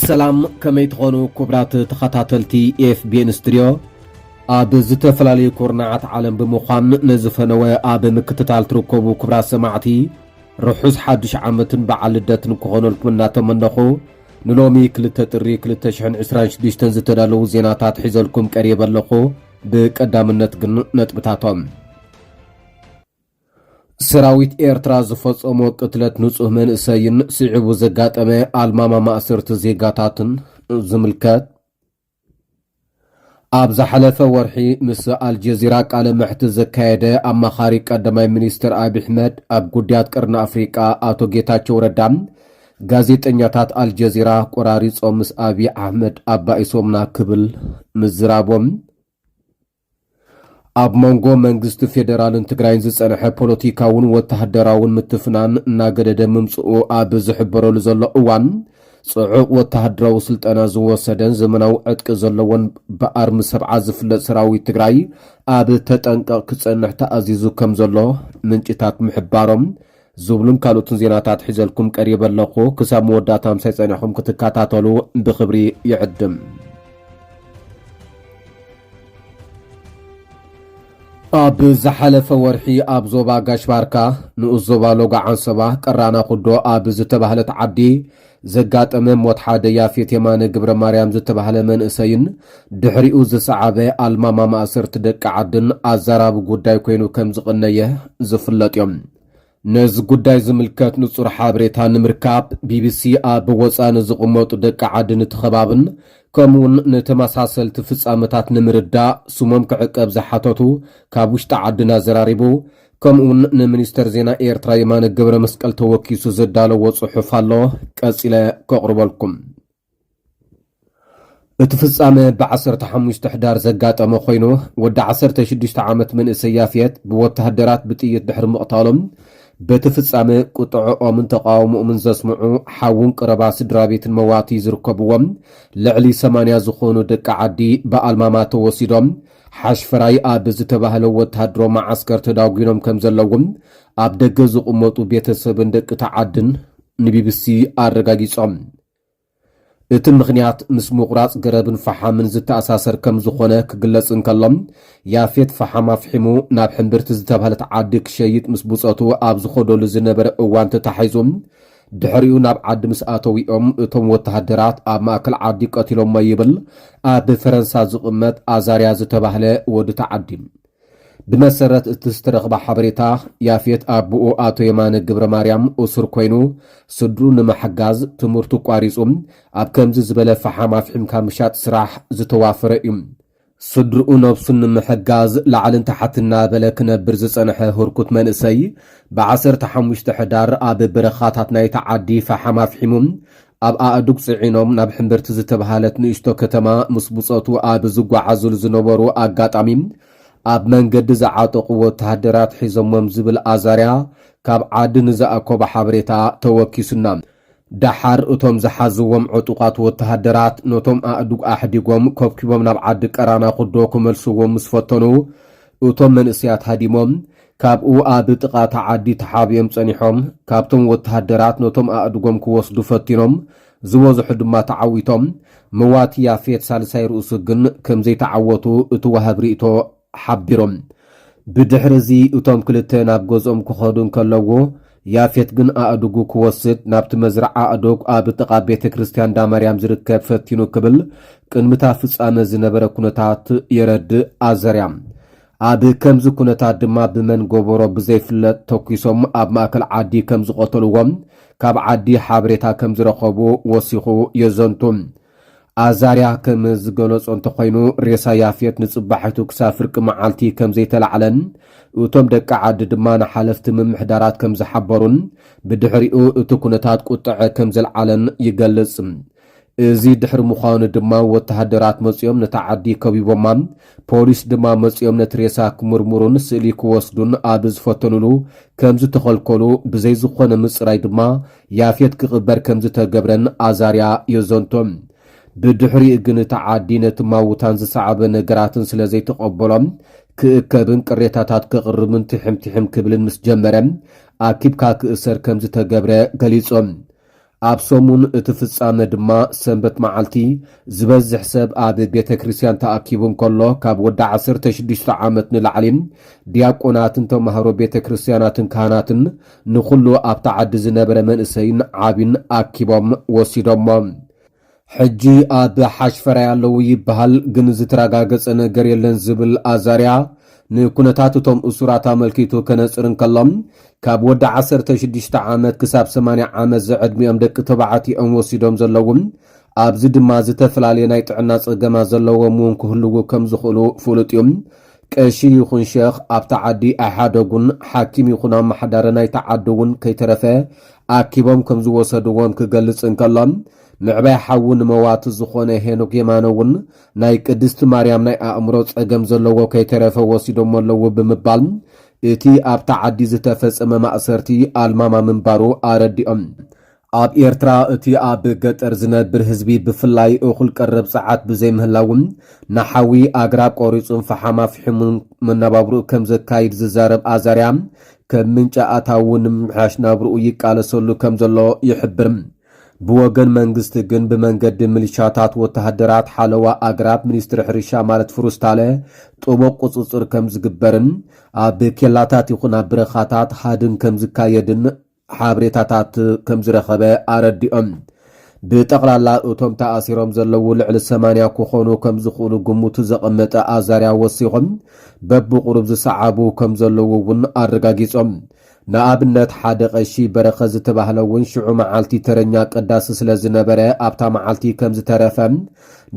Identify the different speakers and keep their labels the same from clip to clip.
Speaker 1: ሰላም ከመይ ትኾኑ ክቡራት ተኸታተልቲ ኤፍቢኤን ስትድዮ ኣብ ዝተፈላለዩ ኩርናዓት ዓለም ብምዃን ነዚ ፈነወ ኣብ ምክትታል ትርከቡ ክቡራት ሰማዕቲ ርሑስ ሓዱሽ ዓመትን በዓል ልደትን ክኾነልኩም እናተመነኹ ንሎሚ ክልተ ጥሪ ክልተ ሽሕን ዕስራን ሽዱሽተን ዝተዳለዉ ዜናታት ሒዘልኩም ቀሪበ ኣለኹ። ብቀዳምነት ግን ነጥብታቶም። ሰራዊት ኤርትራ ዝፈጸሞ ቅትለት ንጹህ መንእሰይን ስዒቡ ዘጋጠመ ኣልማማ ማእሰርቲ ዜጋታትን ዝምልከት ኣብ ዝሓለፈ ወርሒ ምስ ኣልጀዚራ ቃለ መሕትት ዘካየደ ኣማኻሪ ቀዳማይ ሚኒስትር ኣብዪ ኣሕመድ ኣብ ጉዳያት ቀርኒ ኣፍሪቃ ኣቶ ጌታቸው ረዳ ጋዜጠኛታት ኣልጀዚራ ቆራሪፆም ምስ ኣብዪ ኣሕመድ ኣባኢሶምና ክብል ምዝራቦም ኣብ መንጎ መንግስቲ ፌደራልን ትግራይን ዝጸንሐ ፖለቲካውን ወተሃደራውን ምትፍናን እናገደደ ምምጽኡ ኣብ ዝሕበረሉ ዘሎ እዋን ጽዑቕ ወተሃደራዊ ስልጠና ዝወሰደን ዘመናዊ ዕጥቂ ዘለዎን ብኣርሚ ሰብዓ ዝፍለጥ ሰራዊት ትግራይ ኣብ ተጠንቀቕ ክጸንሕ ተኣዚዙ ከም ዘሎ ምንጭታት ምሕባሮም ዝብሉን ካልኦትን ዜናታት ሒዘልኩም ቀሪበ ኣለኹ። ክሳብ መወዳእታ ምሳይ ጸኒሕኹም ክትከታተሉ ብኽብሪ ይዕድም። ኣብ ዝሓለፈ ወርሒ ኣብ ዞባ ጋሽባርካ ንኡስ ዞባ ሎጋ ዓንሰባ ቀራና ኩዶ ኣብ ዝተባህለት ዓዲ ዘጋጠመ ሞት ሓደ ያፌት የማነ ግብረማርያም ዝተባህለ መንእሰይን ድሕሪኡ ዝሰዓበ ኣልማማ ማእሰርቲ ደቂ ዓድን ኣዛራቢ ጉዳይ ኮይኑ ከም ዝቕነየ ዝፍለጥ እዮም። ነዚ ጉዳይ ዝምልከት ንጹር ሓበሬታ ንምርካብ ቢቢሲ ኣብ ወጻኢ ንዝቕመጡ ደቂ ዓድን እቲ ከባብን ከምኡውን ንተመሳሰልቲ ፍጻመታት ንምርዳእ ስሞም ክዕቀብ ዝሓተቱ ካብ ውሽጢ ዓድን ኣዘራሪቡ ከምኡውን ንሚኒስተር ዜና ኤርትራ የማነ ገብረ መስቀል ተወኪሱ ዘዳለዎ ጽሑፍ ኣሎ ቀጺለ ከቕርበልኩም እቲ ፍጻመ ብ15 ሕዳር ዘጋጠመ ኮይኑ ወዲ 16 ዓመት መንእሰይ ያፍየት ብወተሃደራት ብጥይት ድሕሪ ምቕታሎም በቲ ፍጻመ ቁጥዕኦምን ተቃውሞኦምን ዘስምዑ ሓውን ቅረባ ስድራ ቤትን መዋቲ ዝርከብዎም ልዕሊ 80 ዝኾኑ ደቂ ዓዲ ብኣልማማ ተወሲዶም ሓሽፈራይ ኣብ ዝተባህለ ወተሃደራዊ መዓስከር ተዳጒኖም ከም ዘለዎም ኣብ ደገ ዝቕመጡ ቤተሰብን ደቂ ተዓድን ንቢቢሲ ኣረጋጊጾም። እቲ ምኽንያት ምስ ምቑራጽ ገረብን ፈሓምን ዝተኣሳሰር ከም ዝኾነ ክግለጽ እንከሎ፣ ያፌት ፈሓም ኣፍሒሙ ናብ ሕምብርቲ ዝተባህለት ዓዲ ክሸይጥ ምስ ብጾቱ ኣብ ዝኸደሉ ዝነበረ እዋን ተታሒዙ ድሕሪኡ ናብ ዓዲ ምስ ኣተዉ'ዮም እቶም ወተሃደራት ኣብ ማእከል ዓዲ ቀቲሎሞ ይብል ኣብ ፈረንሳ ዝቕመጥ ኣዛርያ ዝተባህለ ወዲ'ቲ ዓዲ። ብመሰረት እቲ ዝተረኽበ ሓበሬታ፣ ያፌት ኣቡኡ ኣቶ የማነ ገብረማርያም እሱር ኮይኑ ስድርኡ ንምሕጋዝ ትምህርቱ ኣቋሪጹ ኣብ ከምዚ ዝበለ ፈሓም ኣፍሒምካ ምሻጥ ስራሕ ዝተዋፈረ'ዩ። ስድርኡ ነብሱ ንምሕጋዝ ላዕልን ታሕትን እናበለ ክነብር ዝጸንሐ ህርኩት መንእሰይ፣ ብ ዓሰርተ ሓሙሽተ ሕዳር ኣብ በረኻታት ናይታ ዓዲ ፈሓም ኣፍሒሙ ኣብ ኣእዱግ ጽዒኖም ናብ ሕምብርቲ ዝተብሃለት ንእሽቶ ከተማ ምስ ብጾቱ ኣብ ዝጓዓዙሉ ዝነበሩ ኣጋጣሚ ኣብ መንገዲ ዝዓጠቑዎ ወተሃደራት ሒዞሞም ዝብል ኣዛርያ ካብ ዓዲ ንዝኣኮቦ ሓበሬታ ተወኪሱና። ደሓር እቶም ዝሓዝዎም ዕጡቓት ወተሃደራት ነቶም ኣእዱግ ኣሕዲጎም ከብኪቦም ናብ ዓዲ ቀራና ኩዶ ክመልስዎም ምስ ፈተኑ እቶም መንእሰያት ሃዲሞም ካብኡ ኣብ ጥቓ እታ ዓዲ ተሓቢኦም ጸኒሖም። ካብቶም ወተሃደራት ነቶም ኣእዱጎም ክወስዱ ፈቲኖም ዝበዝሑ ድማ ተዓዊቶም። መዋቲ ያፌት ሳልሳይ ርእሱ ግን ከምዘይተዓወቱ እቲ ዋሃብ ሪእቶ ሓቢሮም። ብድሕሪ እዚ እቶም ክልተ ናብ ገዝኦም ክኸዱ እንከለዉ፣ ያፌት ግን ኣእዱጉ ክወስድ ናብቲ መዝርዓ ኣእዱግ ኣብ ጥቓ ቤተ ክርስቲያን እንዳ ማርያም ዝርከብ ፈቲኑ ክብል ቅድሚ እታ ፍጻመ ዝነበረ ኩነታት የረድእ ኣዘርያ። ኣብ ከምዚ ኩነታት ድማ ብመን ጎቦሮ ብዘይፍለጥ ተኲሶም ኣብ ማእከል ዓዲ ከም ዝቐተልዎም ካብ ዓዲ ሓበሬታ ከም ዝረኸቡ ወሲኹ የዘንቱ። ኣዛርያ ከም ዝገለጾ እንተኾይኑ፣ ሬሳ ያፌት ንጽባሒቱ ክሳብ ፍርቂ መዓልቲ ከም ዘይተላዕለን እቶም ደቂ ዓዲ ድማ ንሓለፍቲ ምምሕዳራት ከም ዝሓበሩን ብድሕሪኡ እቲ ኩነታት ቁጠዐ ከም ዘልዓለን ይገልጽ። እዚ ድሕሪ ምዃኑ ድማ ወተሃደራት መጺኦም ነታ ዓዲ ከቢቦማ፣ ፖሊስ ድማ መጺኦም ነቲ ሬሳ ክምርምሩን ስእሊ ክወስዱን ኣብ ዝፈተኑሉ ከም ዝተኸልከሉ ብዘይ ዝኾነ ምጽራይ ድማ ያፌት ክቕበር ከም ዝተገብረን ኣዛርያ የዘንቶ። ብድሕሪኡ ግን እቲ ዓዲ ነቲ ማውታን ዝሰዓበ ነገራትን ስለ ዘይተቐበሎ ክእከብን ቅሬታታት ከቕርብን ትሕም ትሕም ክብልን ምስ ጀመረ ኣኪብካ ክእሰር ከም ዝተገብረ ገሊጹ። ኣብ ሰሙን እቲ ፍጻመ ድማ ሰንበት መዓልቲ ዝበዝሕ ሰብ ኣብ ቤተ ክርስቲያን ተኣኪቡ እንከሎ ካብ ወዲ ዓሰርተ ሽዱሽተ ዓመት ንላዕሊ ዲያቆናትን ተማሃሮ ቤተ ክርስቲያናትን ካህናትን ንኹሉ ኣብታ ዓዲ ዝነበረ መንእሰይን ዓቢን ኣኪቦም ወሲዶሞ። ሕጂ ኣብ ሓሽፈራይ ኣለዉ ይበሃል፣ ግን ዝተረጋገጸ ነገር የለን ዝብል ኣዛርያ፣ ንኩነታት እቶም እሱራት ኣመልኪቱ ከነጽር እንከሎ፣ ካብ ወዲ ዓሰርተ ሽዱሽተ ዓመት ክሳብ ሰማንያ ዓመት ዝዕድሚኦም ደቂ ተባዕትዮ እዮም ወሲዶም ዘለዉ፣ ኣብዚ ድማ ዝተፈላለየ ናይ ጥዕና ጸገማት ዘለዎም እውን ክህልዉ ከም ዝኽእሉ ፍሉጥ እዩ። ቀሺ ይኹን ሸኽ ኣብታ ዓዲ ኣይሓደጉን፣ ሓኪም ይኹን ኣመሓዳሪ ናይታ ዓዲ እውን ከይተረፈ ኣኪቦም ከም ዝወሰድዎም ክገልጽ እንከሎ፣ ምዕባይ ሓዉ ንመዋቲ ዝኾነ ሄኖክ የማነ እውን ናይ ቅድስቲ ማርያም ናይ ኣእምሮ ጸገም ዘለዎ ከይተረፈ ወሲዶሞ ኣለዉ ብምባል እቲ ኣብታ ዓዲ ዝተፈጸመ ማእሰርቲ ኣልማማ ምንባሩ ኣረዲኦም። ኣብ ኤርትራ እቲ ኣብ ገጠር ዝነብር ህዝቢ ብፍላይ እኹል ቀረብ ጸዓት ብዘይምህላዉ ንሓዊ ኣግራብ ቆሪጹን ፈሓም ኣፍሒሙን መነባብሮኡ ከም ዘካይድ ዝዛረብ ኣዛርያ ከም ምንጪ ኣታዊኡ ንምምሕያሽ ናብርኡ ይቃለሰሉ ከም ዘሎ ይሕብር። ብወገን መንግስቲ ግን ብመንገዲ ምልሻታት፣ ወተሃደራት፣ ሓለዋ ኣግራብ፣ ሚኒስትሪ ሕርሻ ማለት ፍሩስታለ ጥቡቕ ቁጽጽር ከም ዝግበርን ኣብ ኬላታት ይኹን ኣብ ብረኻታት ሃድን ከም ዝካየድን ሓብሬታታት ከምዝረኸበ ኣረዲኦም። ብጠቕላላ እቶም ተኣሲሮም ዘለዉ ልዕሊ ሰማንያ ክኾኑ ከምዝኽእሉ ግምቱ ዘቐመጠ ኣዛርያ ወሲኾም በብቑሩብ ዝሰዓቡ ከምዘለዉ እውን ኣረጋጊጾም። ንኣብነት ሓደ ቐሺ በረኸት ዝተባህለ እውን ሽዑ መዓልቲ ተረኛ ቀዳሲ ስለዝነበረ ኣብታ መዓልቲ ከምዝተረፈ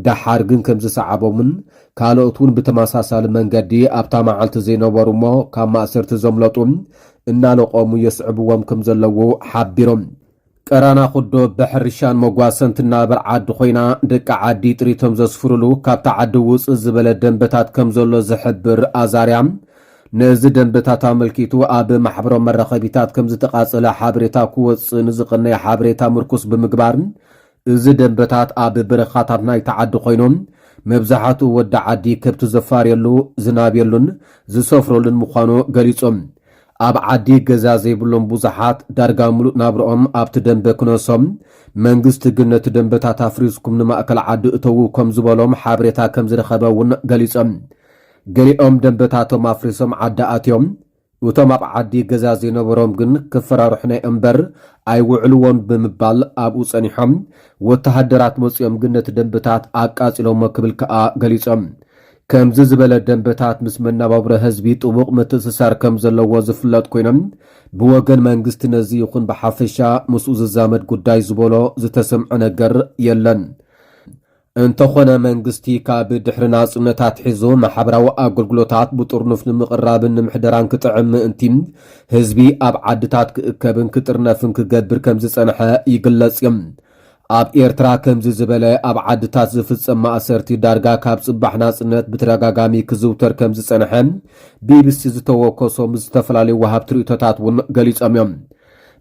Speaker 1: ደሓር ግን ከምዝሰዓቦምን ካልኦት እውን ብተመሳሳሊ መንገዲ ኣብታ መዓልቲ ዘይነበሩ እሞ ካብ ማእሰርቲ ዘምለጡ እናለቖሙ የስዕብዎም ከም ዘለዉ ሓቢሮም። ቀራና ኩዶ ብሕርሻን መጓሰን ትናበር ዓዲ ኮይና ደቂ ዓዲ ጥሪቶም ዘስፍሩሉ ካብታ ዓዲ ውፅእ ዝበለ ደንበታት ከም ዘሎ ዝሕብር ኣዛርያ፣ ነዚ ደንበታት ኣመልኪቱ ኣብ ማሕበራዊ መራኸቢታት ከም ዝተቓፀለ ሓበሬታ ክወፅእ ንዝቐነየ ሓበሬታ ምርኩስ ብምግባር እዚ ደምበታት ኣብ በረኻታት ናይታ ዓዲ ኮይኑ፣ መብዛሕትኡ ወዲ ዓዲ ከብቱ ዘፋርየሉ፣ ዝናብየሉን ዝሰፍረሉን ምዃኑ ገሊጹ። ኣብ ዓዲ ገዛ ዘይብሎም ብዙሓት ዳርጋ ምሉእ ናብርኦም ኣብቲ ደምበ ክነሶም፣ መንግስቲ ግን ነቲ ደምበታት ኣፍሪስኩም ንማእከል ዓዲ እተዉ ከም ዝበሎም ሓበሬታ ከም ዝረኸበ'ውን ገሊጾም። ገሊኦም ደምበታቶም ኣፍሪሶም ዓዲ ኣትዮም። እቶም ኣብ ዓዲ ገዛ ዘይነበሮም ግን ክፈራርሑና እምበር ኣይውዕልዎን ብምባል ኣብኡ ጸኒሖም፣ ወተሃደራት መጺኦም ግን ነቲ ደምበታት ኣቃጺሎሞ ክብል ከኣ ገሊጾም። ከምዚ ዝበለ ደምበታት ምስ መነባብሮ ህዝቢ ጥቡቕ ምትእስሳር ከም ዘለዎ ዝፍለጥ ኮይኑ፣ ብወገን መንግስቲ ነዚ ይኹን ብሓፈሻ ምስኡ ዝዛመድ ጉዳይ ዝበሎ ዝተሰምዐ ነገር የለን። እንተኾነ መንግስቲ ካብ ድሕሪ ናጽነት ኣትሒዙ ማሕበራዊ ኣገልግሎታት ብጥርኑፍ ንምቕራብን ንምሕደራን ክጥዕም ምእንቲ ህዝቢ ኣብ ዓድታት ክእከብን ክጥርነፍን ክገብር ከም ዝጸንሐ ይግለጽ እዩ። ኣብ ኤርትራ ከምዚ ዝበለ ኣብ ዓድታት ዝፍጸም ማእሰርቲ ዳርጋ ካብ ጽባሕ ናጽነት ብተደጋጋሚ ክዝውተር ከም ዝጸንሐ ቢቢሲ ዝተወከሶም ዝተፈላለዩ ወሃብቲ ርእይቶታት እውን ገሊጾም እዮም።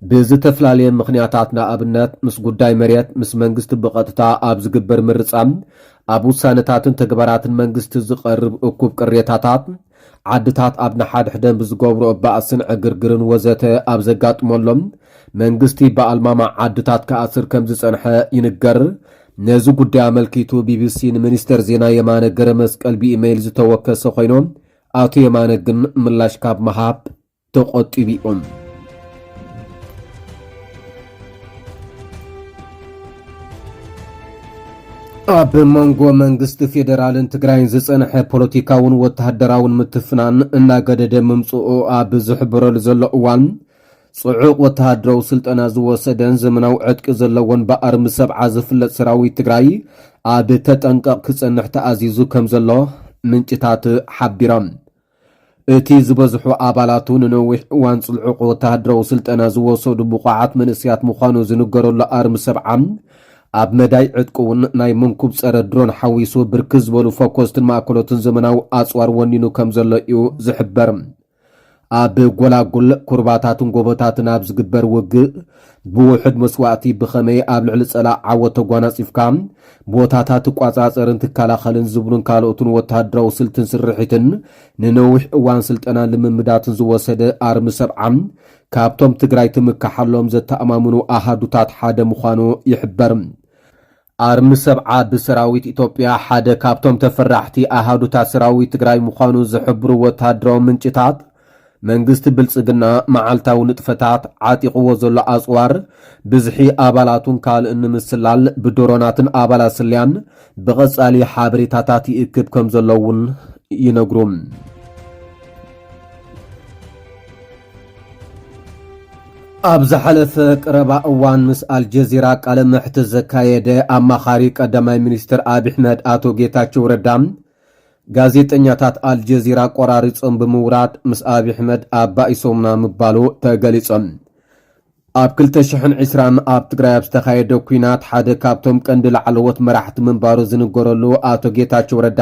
Speaker 1: ብዝተፍላለየ ምኽንያታት ንኣብነት ምስ ጉዳይ መሬት፣ ምስ መንግስቲ ብቐጥታ ኣብ ዝግበር ምርጻ፣ ኣብ ውሳነታትን ተግባራትን መንግስቲ ዝቐርብ እኩብ ቅሬታታት፣ ዓድታት ኣብ ንሓድሕደን ብዝገብርኦ ባእስን ዕግርግርን ወዘተ ኣብ ዘጋጥመሎም መንግስቲ ብኣልማማ ዓድታት ክኣስር ከም ዝጸንሐ ይንገር። ነዚ ጉዳይ ኣመልኪቱ ቢቢሲ ንሚኒስተር ዜና የማነ ገረመስቀል ብኢመይል ዝተወከሰ ኮይኑ፣ ኣቶ የማነ ግን ምላሽ ካብ ምሃብ ተቖጢቢኦም። ኣብ መንጎ መንግስቲ ፌዴራልን ትግራይን ዝፀንሐ ፖለቲካውን ወተሃደራውን ምትፍናን እናገደደ ምምፅኡ ኣብ ዝሕብረሉ ዘሎ እዋን ፅዑቕ ወተሃደራዊ ስልጠና ዝወሰደን ዘመናዊ ዕጥቂ ዘለዎን ብኣርሚ ሰብዓ ዝፍለጥ ሰራዊት ትግራይ ኣብ ተጠንቀቕ ክፀንሕ ተኣዚዙ ከም ዘሎ ምንጭታት ሓቢሮም። እቲ ዝበዝሑ ኣባላቱ ንነዊሕ እዋን ጽልዑቕ ወተሃደራዊ ስልጠና ዝወሰዱ ብቑዓት መንእሰያት ምዃኑ ዝንገረሉ ኣርሚ ሰብዓ፣ ኣብ መዳይ ዕጥቂ እውን ናይ መንኩብ ጸረ ድሮን ሓዊሱ ብርክት ዝበሉ ፈኮስትን ማእከሎትን ዘመናዊ ኣጽዋር ወኒኑ ከም ዘሎ እዩ ዝሕበር። ኣብ ጎላጉል፣ ኩርባታትን ጎቦታትን ኣብ ዝግበር ውግእ፣ ብውሑድ መስዋእቲ ብኸመይ ኣብ ልዕሊ ጸላእ ዓወት ተጓናጺፍካ ቦታታት ትቋጻጸርን ትከላኸልን ዝብሉን ካልኦትን ወተሃደራዊ ስልትን ስርሒትን ንነዊሕ እዋን ስልጠናን ልምምዳትን ዝወሰደ ኣርሚ ሰብዓ ካብቶም ትግራይ ትምከሓሎም ዘተኣማምኑ ኣሃዱታት ሓደ ምዃኑ ይሕበር። ኣርሚ ሰብዓ ብሰራዊት ኢትዮጵያ ሓደ ካብቶም ተፈራሕቲ ኣሃዱታት ሰራዊት ትግራይ ምዃኑ ዝሕብሩ ወተሃደራዊ ምንጭታት፣ መንግስቲ ብልጽግና መዓልታዊ ንጥፈታት ዓጢቕዎ ዘሎ ኣጽዋር፣ ብዝሒ ኣባላቱን ካልእን ንምስላል ብድሮናትን ኣባላት ስለያን ብቐጻሊ ሓበሬታታት ይእክብ ከምዘሎ እውን ይነግሩ። ኣብ ዝሓለፈ ቀረባ እዋን ምስ ኣልጀዚራ ቃለ መሕትት ዘካየደ ኣማኻሪ ቀዳማይ ሚኒስትር ኣብሕመድ ኣቶ ጌታቸው ረዳ ጋዜጠኛታት ኣልጀዚራ ቆራሪፆም ብምውራድ ምስ ኣብሕመድ ኣባኢሶምና ምባሉ ተገሊፆም። ኣብ ክልተ ሽሕን ዕስራን ኣብ ትግራይ ኣብ ዝተኻየደ ኲናት ሓደ ካብቶም ቀንዲ ላዕለዎት መራሕቲ ምንባሩ ዝንገረሉ ኣቶ ጌታቸው ረዳ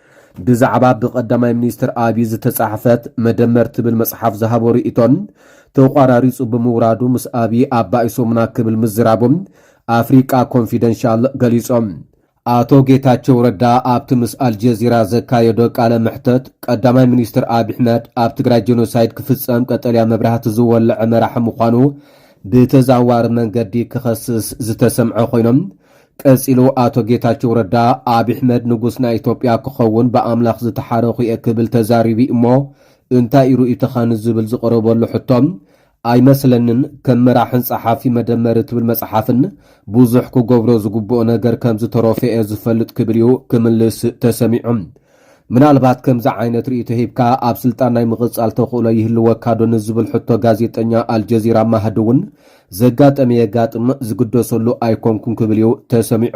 Speaker 1: ብዛዕባ ብቀዳማይ ሚኒስትር ኣብዪ ዝተጻሕፈት መደመር ትብል መጽሓፍ ዝሃቦ ርእይቶን ተቋራሪጹ ብምውራዱ ምስ ኣብዪ ኣባኢሶሙና ክብል ምዝራቡ ኣፍሪቃ ኮንፊደንሻል ገሊጾም። ኣቶ ጌታቸው ረዳ ኣብቲ ምስ ኣልጀዚራ ዘካየዶ ቃለ መሕተት ቀዳማይ ሚኒስትር ኣብዪ ኣሕመድ ኣብ ትግራይ ጀኖሳይድ ክፍጸም ቀጠልያ መብራህቲ ዝወለዐ መራሒ ምዃኑ ብተዘዋዋሪ መንገዲ ክኸስስ ዝተሰምዐ ኮይኖም ቀጺሉ ኣቶ ጌታቸው ረዳ ኣብሕመድ ንጉስ ናይ ኢትዮጵያ ክኸውን ብኣምላኽ ዝተሓረኹ'የ ክብል ተዛሪቡ'ዩ'ሞ እንታይ'ዩ ርእይቶኻ ንዝብል ዝቐረበሉ ሕቶ ኣይመስለንን ከም መራሕን ጸሓፊ መደመር እትብል መጽሓፍን ብዙሕ ክገብሮ ዝግብኦ ነገር ከምዝተረፎ'የ ዝፈልጥ ክብል'ዩ ክምልስ ተሰሚዑ። ምናልባት ከምዚ ዓይነት ርእይቶ ሂብካ ኣብ ስልጣን ናይ ምቕጻል ተኽእሎ ይህልወካዶ ንዝብል ሕቶ ጋዜጠኛ ኣልጀዚራ ማህዲ እውን ዘጋጠመ የጋጥም ዝግደሰሉ ኣይኮንኩን ክብል እዩ ተሰሚዑ።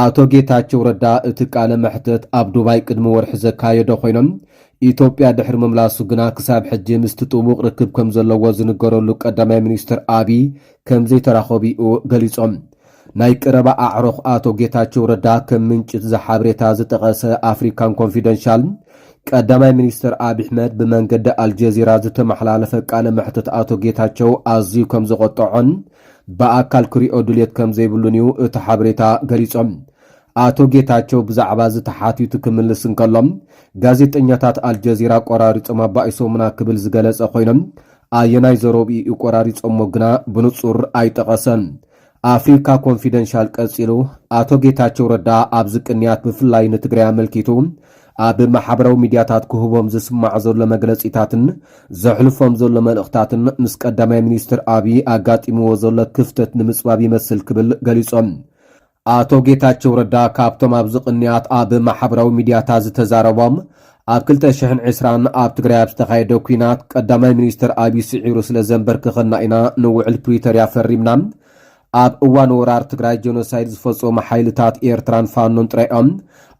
Speaker 2: ኣቶ
Speaker 1: ጌታቸው ረዳ እቲ ቃለ መሕተት ኣብ ዱባይ ቅድሚ ወርሒ ዘካየዶ ኮይኑ ኢትዮጵያ ድሕሪ ምምላሱ ግና ክሳብ ሕጂ ምስቲ ጥቡቕ ርክብ ከም ዘለዎ ዝንገረሉ ቀዳማይ ሚኒስትር ኣብይ ከም ዘይተራኸቡ'ዩ ገሊጾም። ናይ ቀረባ ኣዕሩኽ ኣቶ ጌታቸው ረዳ ከም ምንጪ'ቲ ሓበሬታ ዝጠቐሰ ኣፍሪካን ኮንፊደንሻል፣ ቀዳማይ ሚኒስትር ኣብይ ኣሕመድ ብመንገዲ ኣልጀዚራ ዝተመሓላለፈ ቃለ መሕተት ኣቶ ጌታቸው ኣዝዩ ከም ዘቖጠዖን፣ ብኣካል ክሪኦ ድልየት ከምዘይብሉን እዩ እቲ ሓበሬታ ገሊጹ። ኣቶ ጌታቸው ብዛዕባ'ዚ ተሓቲቱ ክምልስ እንከሎ፣ ጋዜጠኛታት ኣልጀዚራ ቆራሪጾም ኣባኢሶሙና ክብል ዝገለጸ ኾይኑ፣ ኣየናይ ዘረብኡ እዩ ቆራሪጾሞ ግና ብንጹር ኣይጠቐሰን። ኣፍሪካ ኮንፊደንሻል ቀጺሉ፣ ኣቶ ጌታቸው ረዳ ኣብዚ ቅንያት ብፍላይ ንትግራይ ኣመልኪቱ፣ ኣብ ማሕበራዊ ሚድያታት ክህቦም ዝስማዕ ዘሎ መግለጺታትን ዘሕልፎም ዘሎ መልእኽታትን ምስ ቀዳማይ ሚኒስትር ኣብዪ ኣጋጢምዎ ዘሎ ክፍተት ንምጽባብ ይመስል ክብል ገሊጾም። ኣቶ ጌታቸው ረዳ ካብቶም ኣብዚ ቅንያት ኣብ ማሕበራዊ ሚድያታት ዝተዛረቦም ኣብ ክልተ ሽሕን ዕስራን ኣብ ትግራይ ኣብ ዝተኻየደ ኲናት ቀዳማይ ሚኒስትር ኣብዪ ስዒሩ ስለ ዘንበርክኸና ኢና ንውዕል ፕሪቶርያ ፈሪምና ኣብ እዋን ወራር ትግራይ ጀኖሳይድ ዝፈፀሙ ሓይልታት ኤርትራን ፋኖን ጥራይ እዮም።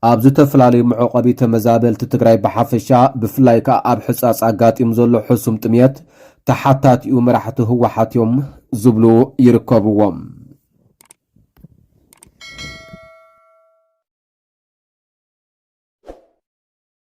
Speaker 1: ኣብ ዝተፈላለዩ መዕቖቢ ተመዛበልቲ ትግራይ ብሓፈሻ ብፍላይ ከኣ ኣብ ሕፃፅ ኣጋጢሙ ዘሎ ሕሱም ጥምየት ተሓታቲኡ መራሕቲ ህወሓት እዮም ዝብሉ ይርከብዎም።